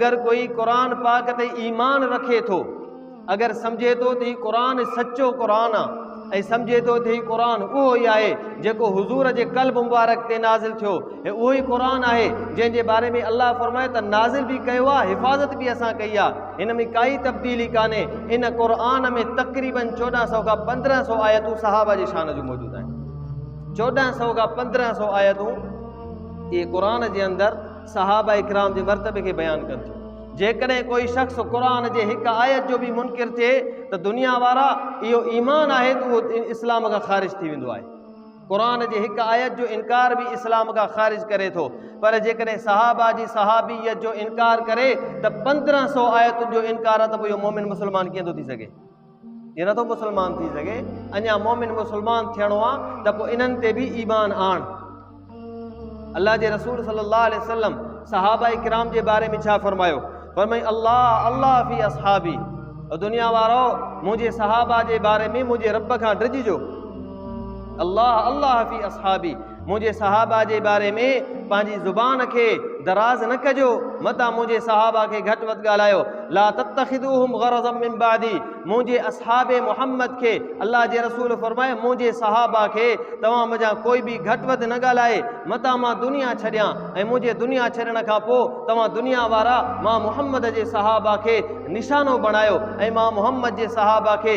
اگر ڪوئي قرآن پاڪ تي ايمان رکي ٿو اگر سمجھي ٿو ته هي قرآن سچو قرآن آ ۽ سمجھي ٿو ته هي قرآن اهو ئي آهي جيڪو حضور جي قلب مبارڪ تي نازل ٿيو ۽ اهو ئي قرآن آهي جنهن جي باري ۾ الله فرمائي ته نازل به ڪيو آ حفاظت به اسان ڪئي آ هن ۾ ڪائي تبديلي ڪانهي ان قرآن ۾ تقريبا چوڏهن سؤ کان پندرهن سؤ آيتون صحابه جي شان جون موجود آهن چوڏهن سؤ کان پندرهن سؤ آيتون اهي قرآن جي اندر صحابه ڪرام جي مرتبي کي بيان ڪن ٿيون. جيڪڏهن ڪوئي شخص قرآن جي هڪ آيت جو به منڪر ٿئي ته دنيا وارا اهو ايمان آهي ته اهو اسلام کان خارج ٿي ويندو آهي. قرآن جي هڪ آيت جو انڪار به اسلام کان خارج ڪري ٿو. پر جيڪڏهن صحابه جي صحابيت جو انڪار ڪري ته پندرهن سؤ آيتن جو انڪار ته پوء اهو مؤمن مسلمان ڪيئن ٿو ٿي سگهي؟ ائين نٿو مسلمان ٿي سگهي اڃا مومن مسلمان ٿيڻو آ ته پوء انهن تي به ايمان آڻ الله جي رسول صلي الله عليه وسلم صحابه کرام جي باري ۾ ڇا فرمايو فرمائي الله الله في اصحابي دنيا وارو منهنجي صحابه جي باري ۾ منهنجي رب کان ڊڄجو الله الله في اصحابي منهنجي صحابه جي باري ۾ پنهنجي زبان کي دراز نه ڪجو، متان منهنجي صحابه کي گهٽ وڌ ڳالهايو، لا تتخذوهم غرضا من بعدي، منهنجي اصحاب محمد کي الله جي رسول فرمايو منهنجي صحابه کي توهان منجهان ڪوئي به گهٽ وڌ نه ڳالهائي، متان مان دنيا ڇڏيان ۽ منهنجي دنيا ڇڏڻ کان پوء توهان دنيا وارا مان محمد جي صحابه کي نشانو بڻايو ۽ مان محمد جي صحابه کي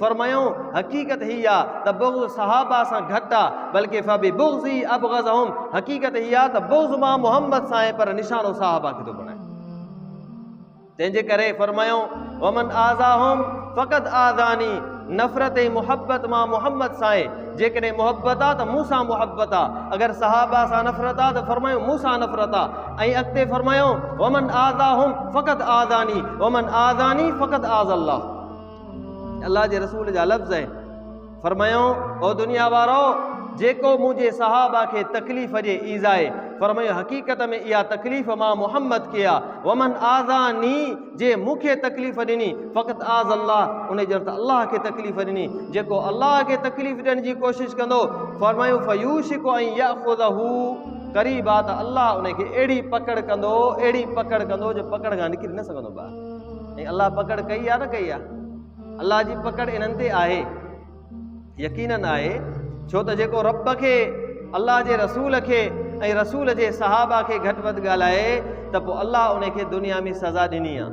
فرمايائون، حقيقت هي آ ته بغض صحابه سان گهٽ آ، بلڪه فببغضي ابغضهم، حقيقت هي آ ته بغض مان محمد سان آهي پر نشانو صحابه کي ٿو بڻائي. تنهن جي ڪري فرمايائون، ومن آذاهم فقد آذاني، نفرت ۽ محبت مان محمد سان آهي، جيڪڏهن محبت آ ته مون سان محبت آ، اگر صحابه سان نفرت آ ته فرمايائون مون سان نفرت آ ۽ اڳتي فرمايائون، ومن آذاهم فقد آذاني، ومن آذاني فقد آذا الله. الله جي رسول جا لفظ آهن، فرمايائون، او دنيا وارؤ! جيڪو منهنجي صحابه کي تڪليف ڏي، ايذائي، فرمايو، حقيقت ۾ اها تڪليف مان محمد کي آ، ومن آذاني، جنهن مون کي تڪليف ڏني، فقد آذا الله، انهي ڄڻ ته الله کي تڪليف ڏني، جيڪو الله کي تڪليف ڏيڻ جي ڪوشش ڪندو، فرمايائون، فيوشڪ ان ياخذه، قريب آ ته الله ان کي اهڙي پڪڙ ڪندو، اهڙي پڪڙ ڪندو جو پڪڙ کان نڪري نه سگهندو ٻاهر. ۽ الله پڪڙ ڪئي يا نه ڪئي آهي؟ الله جي پڪڙ انهن تي آهي. يقينن آهي ڇو ته جيڪو رب کي، الله جي رسول کي ۽ رسول جي صحابه کي گهٽ وڌ ڳالهائي ته پوء الله ان کي دنيا ۾ سزا ڏني آهي.